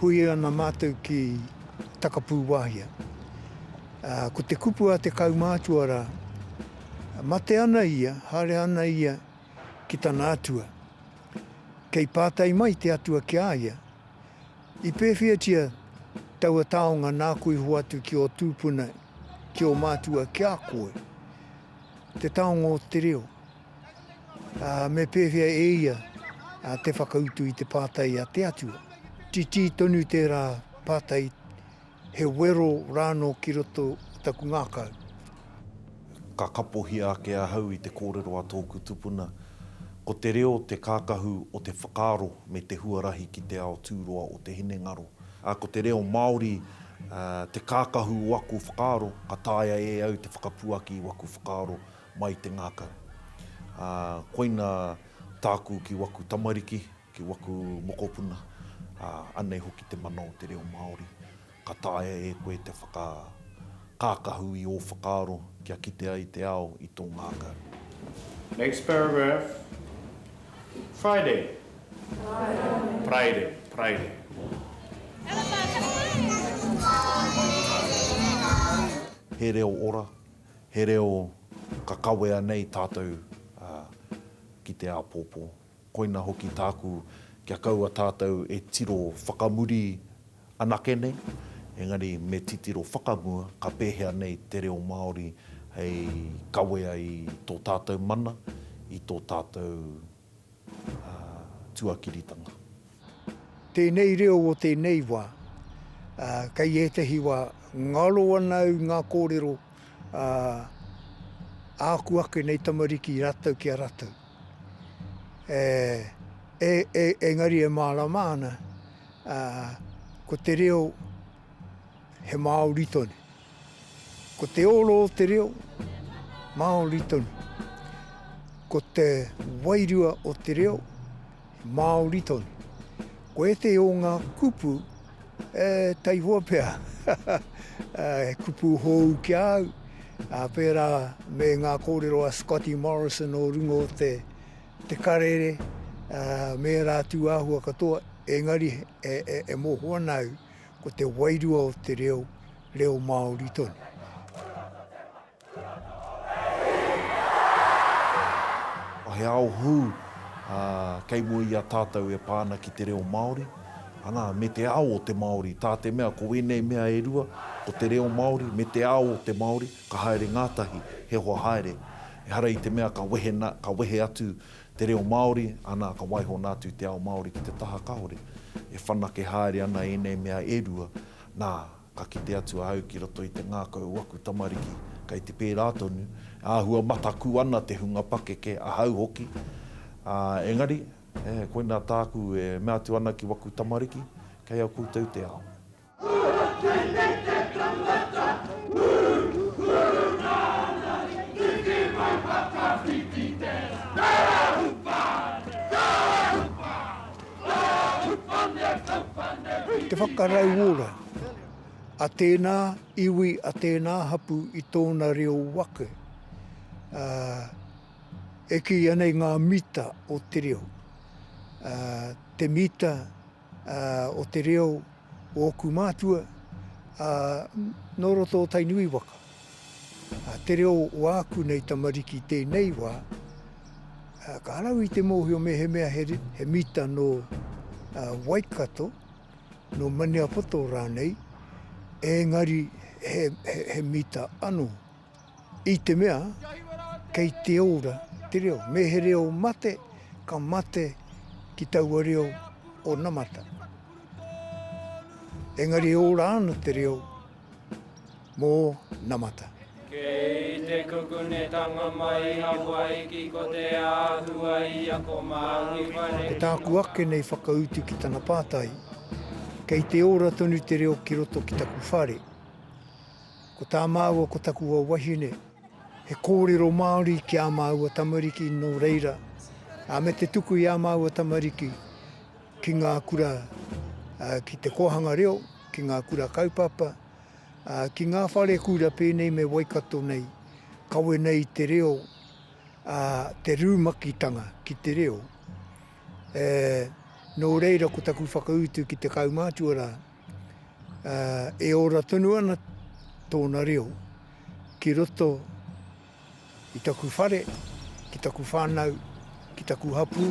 Hui ana mātou ki Takapūwāhia. Ko te kupu a te kaumātua rā. Mate ana ia, haere ana ia ki tana atua. Kei pātai mai te atua ki a ia, I pēwhiatia taua taonga nāku i hoatu ki ō tūpuna, ki ō mātua, ki a koe? Te taonga o te reo. Ā, me pēwhea e ia te whakautu i te pātai a te atua? Titī tonu tērā pātai. He wero rānō ki roto i taku ngākau. Ka kapohia ake ahau i te kōrero a tōku tupuna, ko te reo te kākahu o te whakaaro me te huarahi ki te ao tūroa o te hinengaro. Ā, ko te reo Māori te kākahu o aku whakaaro, ka taea e au te whakapuaki i waku whakaaro mai i te ngākau. Ā, koina tāku ki waku tamariki, Ki waku mokopuna, ā, anei hoki te mana o te reo Māori. Ka taea e koe te whakakākahu i ō whakaaro kia kite ai te ao i tō ngākau. Next paragraph, Friday. Praire, praire. He reo ora, he reo ka kawea nei tātou ki te āpōpō. Koina hoki tāku kia kaua tātou e tiro whakamuri anake nei, engari me titiro whakamua ka pēhea nei te reo Māori hei kawea i tō tātou mana, i tō tātou tuakiritanga. Tēnei reo o tēnei wā, kei ētahi wā ngaro ana au i ngā kōrero a āku ake nei tamariki rātou ki a rātou. Engari e mārama ana ko te reo he Māori tonu. Ko te oro o te reo, Māori tonu. Ko te wairua o te reo, Māori tonu. Ko ētehi o ngā kupu, e, taihoa pea, he kupu hou ki a au, ā, pērā me ngā kōrero a Scotty Morrison o runga o te, te karere, ā, me ērā tūāhua katoa, engari e, e, e moho ana au, Ko te wairua o te reo, reo Māori tonu. He ao hou kei mua i a tātou e pā ana ki te reo Māori, ana, me te ao o te Māori, tā te mea ko ēnei mea e rua, ko te reo Māori me te ao o te Māori, ka haere ngātahi, he hoa haere. Ehara i te mea ka wehe atu te reo Māori, anā, ka waihona atu te ao Māori ki te taha kahore, e whanake haere ana ēnei mea e rua, nā, ka kite atu ahau ki roto i te ngākau o aku tamariki, kei te pērā tonu, e āhua mataku ana te hunga pakeke, ahau hoki, ā, engari, e, koinā tāku e mea atu ana ki waku tamariki, kei a koutou te ao. Te whakarauora a tēnā iwi, a tēnā hapū i tōna reo wake, e kīia nei ngā mita o te reo, te mita, o te reo o ōku mātua nō roto o Tainui waka. Te reo o āku nei tamariki i tēnei wā, ka harau i te mōhio mehemea he mita nō Waikato, nō Maniapoto rānei, ēngari he mita anō. I te mea, kei te ora te reo. Me he reo mate, ka mate ki taua reo onamata. Engari e ora ana te reo mō namata. Kei te kukunetanga mai i Hawaiki ko te āhua i ako Māori whare. Ko tāku ake nei whakautu ki tana pātai, kei te ora tonu te reo ki roto ki taku whare? Ko tā māua ko taku wawahine, he kōrero Māori ki ā māua tamariki nō reira, ā, me te tuku i ā māua tamariki ki ngā kura, ā, ki te kōhanga reo, ki ngā kura kaupapa, ā, ki ngā whare kura pēnei me Waikato nei, kawe nei i te reo, ā, te rūmakitanga ki te reo. E, nō reira ko taku whakautu ki te kaumātua rā, ā, e ora tonu ana tōna reo ki roto i taku whare, ki taku whānau, ki taku hapū.